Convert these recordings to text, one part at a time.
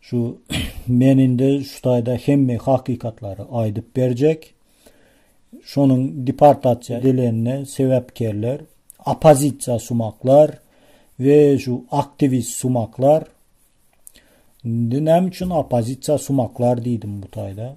Şu men indi şu taýda hemme hakykatlary aýdyp berjek. Şonuň deportasiýa edilenine sebäpkerler oppozisiýa sumaklar we şu aktiwist sumaklar. Indi näme üçin oppozisiýa sumaklar diýdim bu taýda?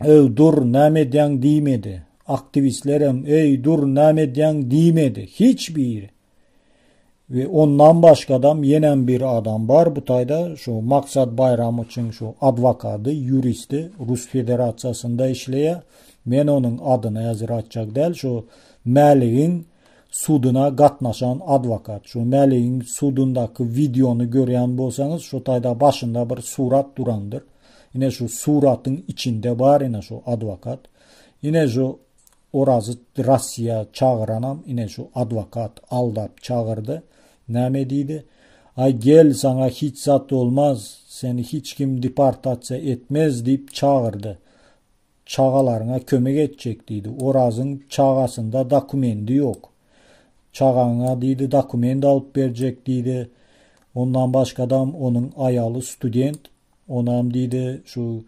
Öý, dur, näme edýäň diýmedi. Aktiwistlerem, öý, dur, näme edýäň diýmedi. Hiç biri. We ondan başgadam ýenem bir adam bar bu taýda, şu Maksat Baýramowyçyň şu adwokady, ýuristi, Rus Federasiýasynda işleýär. Men onuň adyny häzir aýtjak däl, şu Mäligiň Suduna gatnaşan adwokat. Şu Mälegiň sudundaky wideony görýän bolsaňyz şu taýda başynda bir surat durandyr. Ine şu suratyň içinde bar ine şu adwokat. Ine şu Orazy Rossiýa çagyranam ine şu adwokat aldap çagyrdy. Näme diýdi? Aý gel saňa hiç zat bolmaz, seni hiç kim deportasiýa etmez diýip çagyrdy. Çagalaryňa kömek etjek, diýdi. Orazyň çagasynda dokumendi ýok. Çagaňa, diýdi, dokument alyp berjek, diýdi. Ondan başgadam onuň aýaly student. Onam, diýdi, şu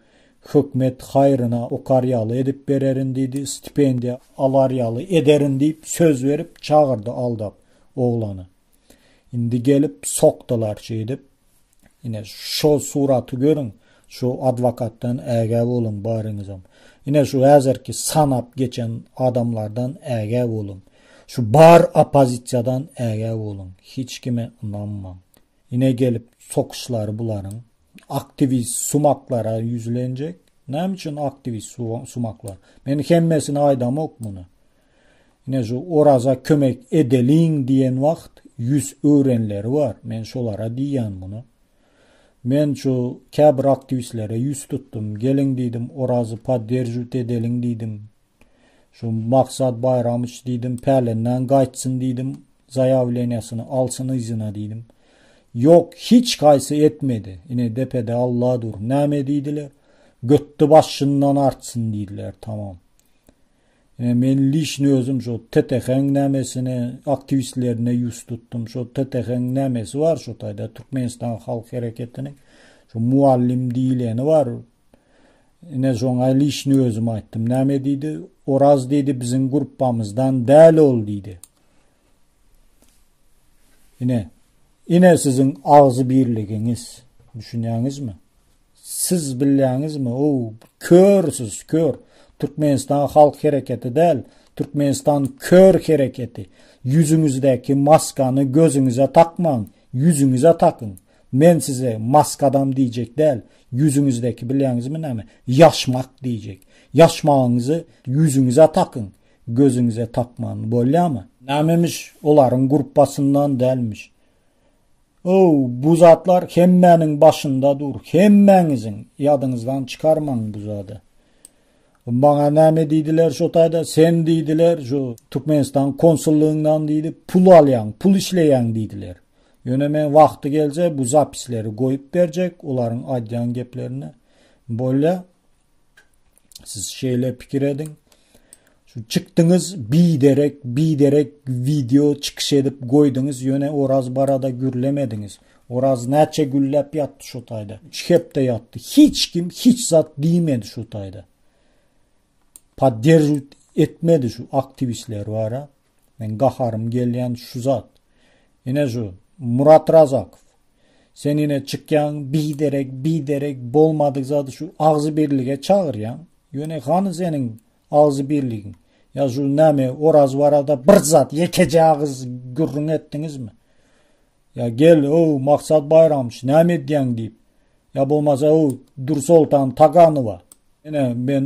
hökmet haýryna okar ýaly edip bererin, diýdi, stipendiýa alar ýaly ederin diýip söz berip çagyrdy aldap oglany. Indi gelip sokdular şeýdip. Ine şo suraty görüň, şu adwokatdan ägä boluň baryňyzam. Ine şu häzirki sanap geçen adamlardan ägä boluň. Şu bar oppozisiýadan ägä boluň. Hiç kime ynanmaň. Ine gelip sokyşlary bularyň. Aktiwist sumaklara ýüzlenjek. Näme üçin aktiwist sumaklar? Men hemmesini aýdamok muny. Ine şu oraza kömek edeliň diýen wagt ýüz öwrenleri bar. Men şolara diýýän muny. Men şu käbir aktiwistlere ýüz tutdum. Geliň diýdim orazy podderjwt edeliň diýdim. Şu Maksat Baýramyç diýdim pälenden gaýtsyn diýdim. Zaýawleniýasyny alsyn yzyna diýdim. Ýok hiç haýsy etmedi. Ine depede Alla dur. Näme diýdiler? Götdi başyndan artsyn diýdiler tamam. Ine men liçno özüm şo TTH-iň nämesine, aktiwistlerine ýus tutdum. Şo TTH-iň nämesi bar şo taýda Türkmenistan halk hereketiniň şo mugallym diýileni bar. Ine şoňa liçno özüm aýtdym. Näme diýdi? Oraz diýdi biziň gruppamyzdan däl ol diýdi. Ine, ine siziň agzy birligiňiz. Düşünýäňizmi? Siz bilýäňizmi? O, kör siz, kör. Türkmenistan halk hereketi däl, Türkmenistan kör hereketi. Ýüzüňizdäki maskany gözüňize takmaň, ýüzüňize takyň. Men size maskadam diýjek däl, ýüzüňizdäki bilýäňizmi näme? Ýaşmak diýjek. Ýaşmagyňyzy ýüzüňize takyň. gözüňize tapman bolýamy? Nämemiş, olaryň gruppasyndan dälmiş. Ow, bu zatlar hemmäniň başynda dur, hemmäňiziň ýadyňyzdan çykarmaň bu zady. Maňa näme diýdiler şo taýda, sen diýdiler, şu Türkmenistan konsullygyňdan diýdi, pul alýaň, pul işleýäň diýdiler. Ýöne men wagty gelje bu zapisleri goýup berjek, olaryň aýdýan geplerini. Bolýa, Siz şeýle pikir ediň. Şu çykdyňyz biderek, biderek video çykyş edip goýduňyz, ýöne Oraz barada gürlemediňiz. Oraz näçe gülläp ýatdy şu taýda? 3 hepde ýatdy. Hiç kim hiç zat diýmedi şu taýda. Podderžit etmedi şu aktiwistler bara. Men gaharym gelýän şu zat. Ine şu Murat Razakow. Sen ine çykýaň biderek biderek bolmadyk zady şu agzy birlige çagyrýaň. Ýöne hany seniň agzy birligiň? Ýa şu näme oraz barada bir zat ýekeje agyz gürrüň etdiňizmi? Ýa gel o maksat baýramç näme edýäň diýip. Ýa bolmasa o Dürsoltan Taganowa. Ine men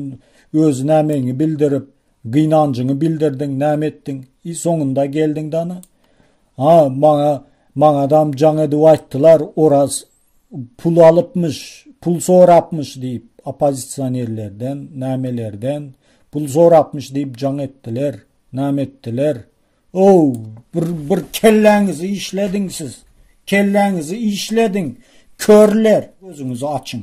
öz nämeňi bildirip Gynanjyňy bildirdiň, näme etdiň? I soňunda geldiň dana. Ha, maňa, maňadam jaň edip aýtdylar, Oraz pul alypmyş, pul sorapmyş diýip, oppozisionerlerden, nämelerden pul sorapmyş diýip jaň etdiler, näme etdiler? Ow, bir, bir kelläňizi işlediň siz, kelläňizi işlediň, körler, gözüňizi açyň.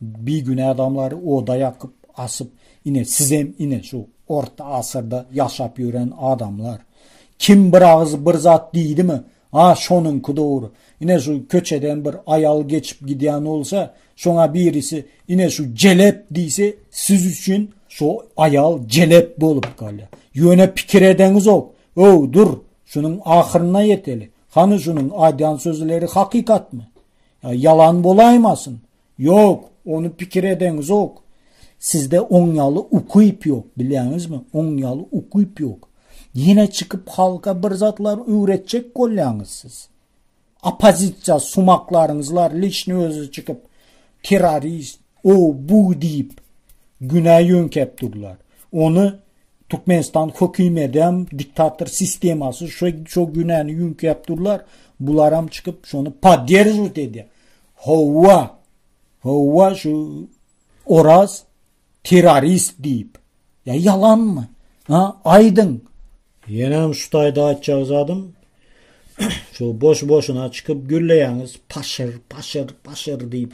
Bigünä adamlary oda ýakyp, asyp, ine, sizem, ine, şu orta asyrda ýaşap ýören adamlar. Kim bir agyz bir zat diýdimi, a, şonuňky dogry. Ine, şu köçeden bir aýal geçip gidýän bolsa, şoňa birisi, ine, şu jelep diýse, siz üçin şo aýal jelep bolup galýar. Ýöne pikir edeňizok. Öw, dur, şunuň ahyryna ýeteli. Hany şunuň aýdýan sözleri hakykatmy? Ýa ýalan bolaýmasyn? Ýok, ony pikir edeňizok. Sizde oň ýaly ukyp ýok, bilýäňizmi? Oň ýaly ukyp ýok. Ýene çykyp halka bir zatlar öwretjek bolýaňyz siz. Oppozisiýa sumaklaryňyzlar lişni özi çykyp terrorist, O, bu diýip, günä ýöňkäp durlar. Ony Türkmenistan höküm edem, diktator sistemasy şo şo günäni ýüňkäp durlar. Bularam çykyp şony podderžwt edýär. Howwa. Howwa şu Oraz terrorist diýip. Ýa ýalanmy? Ha, aýdyň. Ýenem şu taýda aýtjak zadym şu boş-boşuna çykyp gürleýäňiz paşyr paşyr paşyr diýip.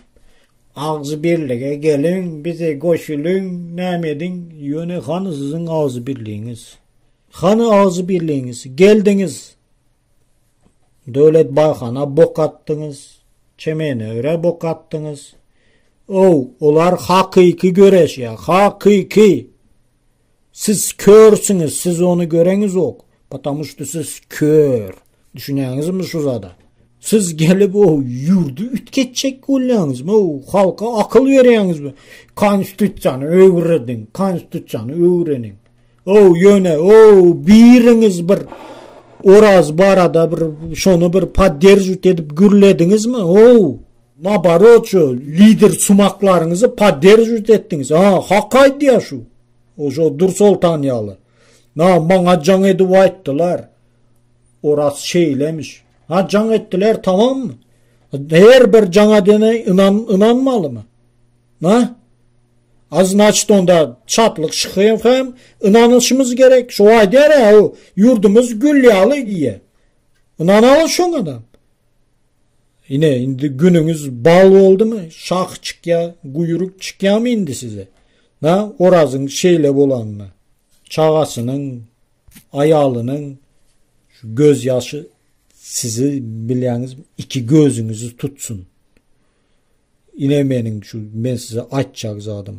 Agzybirlige geliň bize goşulyň näme ediň ýöne hany siziň agzybirligiňiz. Hany agzybirligiňiz geldiňiz Döwlet Baýhana bok atdyňyz Çemenöre bok atdyňyz. Ow olar hakyky göreşýär hakyky. Siz körsüňiz, siz ony göreňizok, potamu şto siz kör. Düşünýäňizmi şu zada? Siz gelip o ýurdy ütgetjek bolýaňyzmy? O halka akyl berýäňizmi? Konstitusiýany öwrediň, konstitusiýany öwreniň. O ýöne o biriňiz bir Oraz barada bir şony bir podderžit edip gürlediňizmi? O Naborot şu lider sumaklaryňyzy podderžwit etdiňiz ha hak aýdýa şu oşo Dursoltan ýaly na maňa jaň edip aýtdylar oras şeýlemiş ha jaň etdiler tamammy her bir jaň edene inan ynanmalymy na a znaçt onda çatlyk şyhyýew hem ynanyşymyz gerek şu aýdýar a ýurdumyz gül ýaly diýýä ynanaly şoňa da Ine indi günüňiz bal boldumy? Şah çykýa, guýruk çykýamy indi size? Na, Orazyň şeýle bolanyna, çagasynyň, aýalynyň şu göz ýaşy sizi bilýäňizmi, iki gözüňizi tutsun. Ine meniň şu men size aýtjak zadym.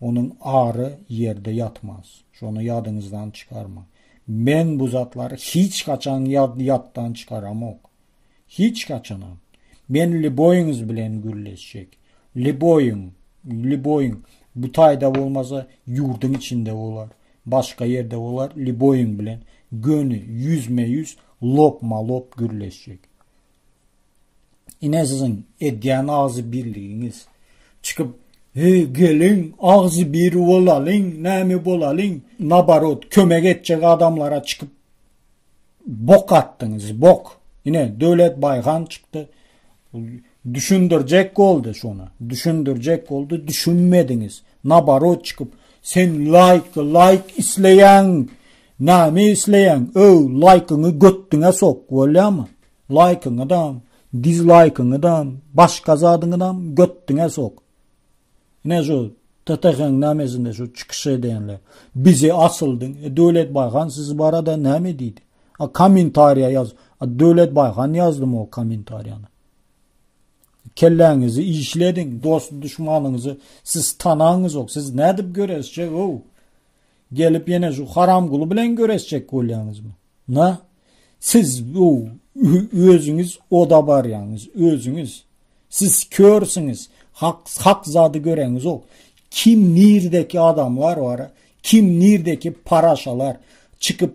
Onuň ary ýerde ýatmaz. Şony ýadyňyzdan çykarmaň. Men bu zatlary hiç haçan ýatdan çykaramok. Hiç haçanam. Men liboýyňyz bilen gürleşjek. Liboýyň, liboýyň. Bu taýda bolmasa, ýurduň içinde bolar, başga ýerde bolar, liboýyň bilen göni, ýüzme-ýüz, lopma-lop gürleşjek. Ine siziň edýän agzy birligiňiz. Çykyp, hey geliň, agzy biri bolalyň, näme bolalyň, nabarot, kömek etjek adamlara çykyp bok atdyňyz, bok. Ine Döwlet Baýhan çykdy. Düşündirjek boldy şona. Düşündirjek boldy, düşünmediňiz. Nabarot çykyp, sen laýk, laýk isleýän Näme isleýäň öw laýkyňy götdüňe sok bolýamy laýkyňydam dizlaýkyňydam başga zadyňydam götdüňe sok ine şu TTH-nyň nämesinde şu çykyş edenler bize asyldyň e Döwlet Baýhan siz barada näme diýdi a kommentariýa ýaz a Döwlet Baýhan ýazdym o kommentariýany kelläňizi işlediň dost duşmanyňyzy siz tanaňyzok siz nädip göreşjek öw Gelip ýene şu haramguly bilen göreşjek bolýaňyzmy? Na? Siz bu özüňiz oda barýaňyz, özüňiz. Siz körsüňiz, hak hak zady göreňizok. Kim nirdeki adamlar bar? Kim nirdeki paraşalar? Çykyp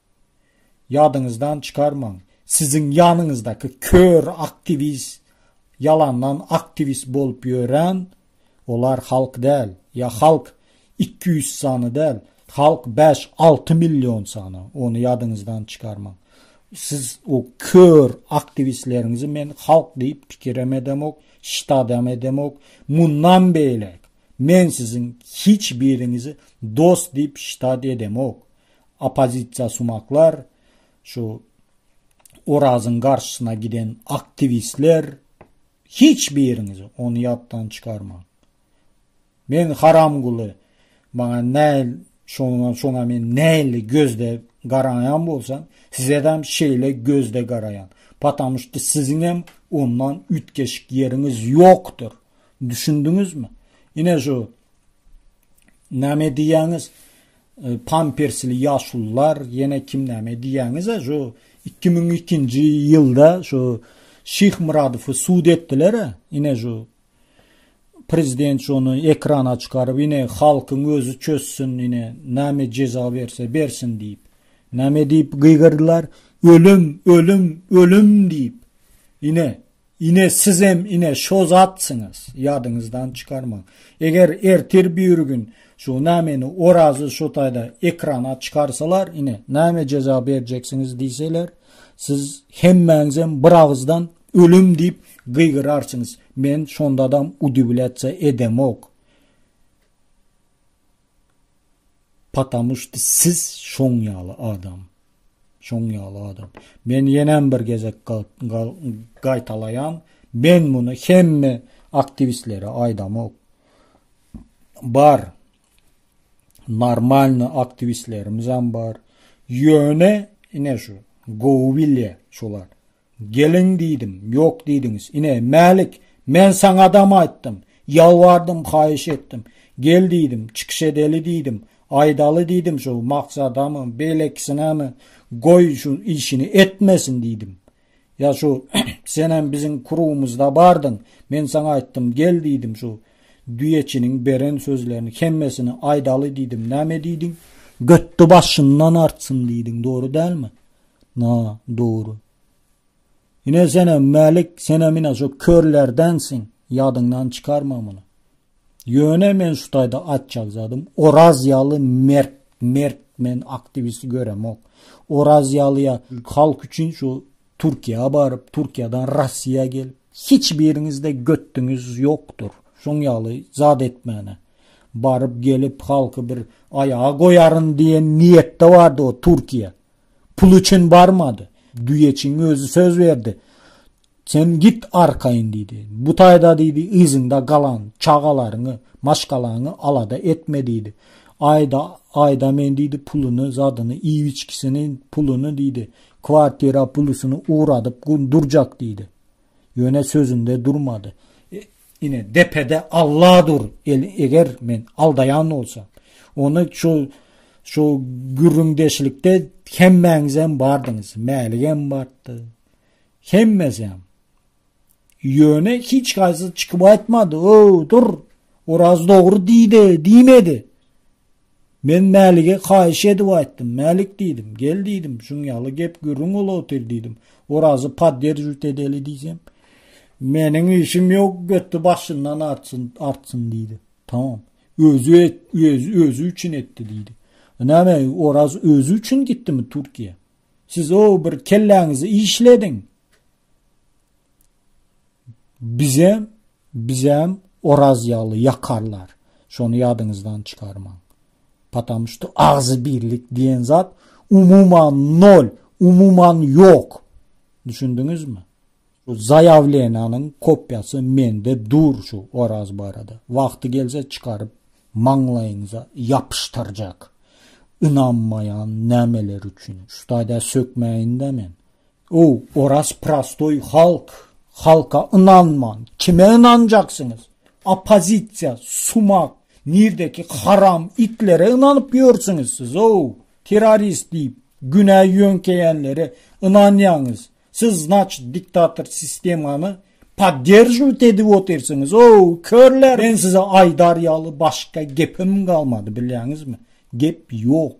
Ýadyňyzdan çykarmaň, siziň ýanyňyzdaky kör aktiwist ýalandan aktiwist bolup ýören olar halk däl, ýa halk iki ýüz sany däl, halk bäş, alty million sany, ony ýadyňyzdan çykarmaň. Siz o kör aktiwistleriňizi men halk diýip pikirem edemok, ştadam edemok. Mundan beýläk men siziň hiç biriňizi dost diýip ştad edemok. oppozisiýasumaklar, şu Orazyň garşysyna giden aktiwistler, hiç biriňiz ony ýatdan çykarmaň. Men haramguly, maňa näl şoňa şoňa men näli gözde garaýan bolsam, size hem şeýle gözde garaýan. Patam şu siziň hem ondan ütgeşik ýeriňiz ýokdur. Düşündiňizmi? Ine şu näme diýýäňiz? Pampersli ýaşulular ýene kim näme diýýäňizä şu iki müň ikinji ýylda şu Şihmyradowy sud etdiler ine şu prezident şony ekrana çykaryp ine halkyň özi çözsün ine näme jeza berse bersin diýip näme diýip gygyrdylar ölüm ölüm ölüm diýip ine Ine sizem ine şo zatsyňyz ýadyňyzdan çykarmaň. Eger ertir bir gün şu nämeni Orazy şu taýda ekrana çykarsalar ine näme jeza berjeksiňiz diýseler siz hemmäňizem bir agyzdan ölüm diýip gygyrarsyňyz. Men şondadam udiwlýatsiýa edemok. Patamuş siz şoň ýaly adam. Şoň ýaly adam. Men ýenem bir gezek gaýtalaýan, men muny hemme aktiwistlere aýdamok. Bar. Normalny aktiwistlerimiz hem bar. Ýöne ine şu gowy bilýä şolar. Geliň diýdim, ýok diýdiňiz. Ine, Mälik, men saňadam aýtdym, ýalbardym, haýyş etdim. Gel diýdim, çykyş edeli diýdim, aýdaly diýdim şu Maksadamy, beýlekisinemi, goý şu işini etmesin diýdim. Ýa şu senem biziň krugumyzda bardyň, men saňa aýtdym, gel diýdim şu düýeçiniň beren sözlerini hemmesini aýdaly diýdim, näme diýdiň? Götde başyndan artsyn diýdiň, dogry dälmi? Na, dogry. Ine senem Mälik, senem ine şu körlerdensiň, ýadyňdan çykarma muny. Ýöne men şu taýda aýtjak zadym, Oraz ýaly mert, mert men aktiwisti göremok. Oraz ýaly ýa halk üçin şu Türkiýä baryp, Türkiýeden Russiýa gelip, hiç biriňizde götdüňiz ýokdur. Şoň ýaly zat etmäne. Baryp gelip halky bir aýaga goýaryn diýen niýetde bardy o Türkiýe. Pul üçin barmady. Düýeçiň özi söz berdi. Sen git arkaýyn diýdi. Bu taýda diýdi, yzyňda galan çagalaryňy, maşgalaňy alada etme diýdi. Aýda, aýda men diýdi, puluny, zadyny, iýip-içgisini, puluny diýdi, kwartira pulusyny ugradyp durjak diýdi. Ýöne sözünde durmady. Ine, depede Alla dur. Eger men aldaýan bolsam, ony şu şu gürrüňdeşlikde hemmäňiz hem bardyňyz. Mälik hem bardy. Hemmesi hem. Ýöne hiç gaýsy çykyp aýtmady. O, dur. Oraz dogry diýdi, diýmedi. Men Mälige haýyş edip aýtdym. Mälik diýdim, gel diýdim, şuň ýaly gep-gürrüň bolup otyr diýdim. Orazy podderžit edeli diýsem, Meniň işim ýok, göti başyndan artsyn, artsyn diýdi. Tamam. Özi et, özi, özi üçin etdi diýdi. Näme, Oraz özi üçin gitdimi Türkiýä? Siz o bir kelläňizi işlediň. Bizem, bizem Oraz ýaly ýakarlar. Şony ýadyňyzdan çykarmaň. Patam şu agzy birlik diýen zat umuman nol, umuman ýok. Düşündiňizmi? Bu zaýawlenanyň kopýasy mende dur şu Oraz barada. Wagty gelse çykaryp maňlaýyňyza ýapyşdyrjak. Ynanmaýan nämeler üçin? Şu taýda sökmäýin-de men. O, oraz prostoý halk, halka ynanman, kime ynanjaksyňyz? Oppozisiýa, sumak, nirdeki haram itlere ynanyp ýörsüňiz siz o, terrorist diýip günä ýöňkeýänlere ynanýaňyz, siz znaçit diktator sistemany podderžiwt edip otyrsyňyz o, körler, men size aýdar ýaly başga gepim galmady bilýäňizmi, gep ýok,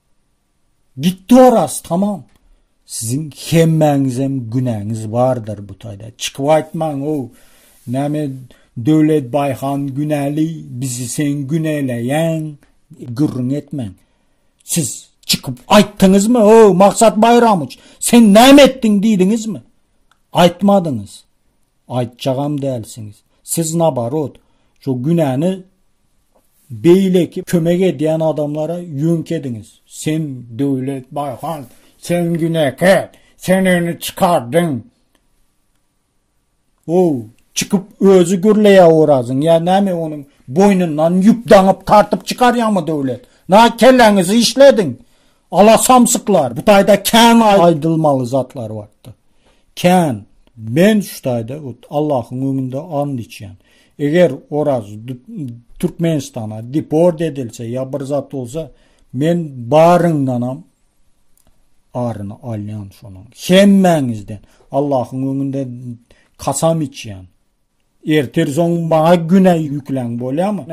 Gitdi oraz tamam. Siziň hemmäňizem günäňiz bardyr bu taýda. Çykyp aýtmaň ow. Näme Döwlet Baýhan günäli, bizi sen günäleýäň. Gürrüň etmäň. Siz çykyp aýtdyňyzmy ow Maksat Baýramowiç, sen näme etdiň diýdiňizmi? Aýtmadyňyz. Aýtjagam dälsiňiz. Siz nabarot, şo günäni Beýleki kömek edýän adamlara ýüňk ediňiz. Sen Döwlet Baýhan, sen günäkär, sen ony çykardyň. Ow, çykyp özi gürleýär Orazyň, ýa näme onuň boýnundan ýüp daňyp tartyp çykarýaňmy Döwlet? Na kelläňizi işlediň. Ala samsyklar, bu taýda kän aýdylmaly zatlar bardy. Kän. Men şu taýda öt Allahyň öňünde and içýän. Eger Oraz Türkmenistana deport edilse ýa bir zat bolsa, men baryňdanam aryny alýan şonuň. Hemmäňizden Allahyň öňünde kasam içýän. Ertir soň maňa güne ýükläň bolýamy?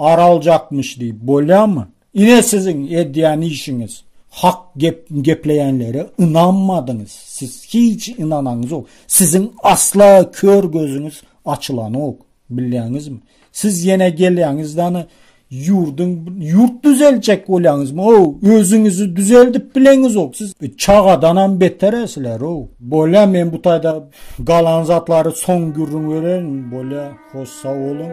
Ar aljakmyş diýip bolýamy? Ine siziň edýän işiňiz. Hak gep gepleýänlere ynanmadyňyz. Siz hiç ynanaňyzok. Siziň asla kör gözüňiz açylanok. Bilýäňizmi? Siz ýene gelýäňiz dany Ýurduň ýurt düzeljek bolýaňyzmy ow özüňizi düzeldip bileňizok siz çagadanam beter sizler ow bolýa men bu taýda galan zatlary soň gürrüň bererin bolýa hoş sag boluň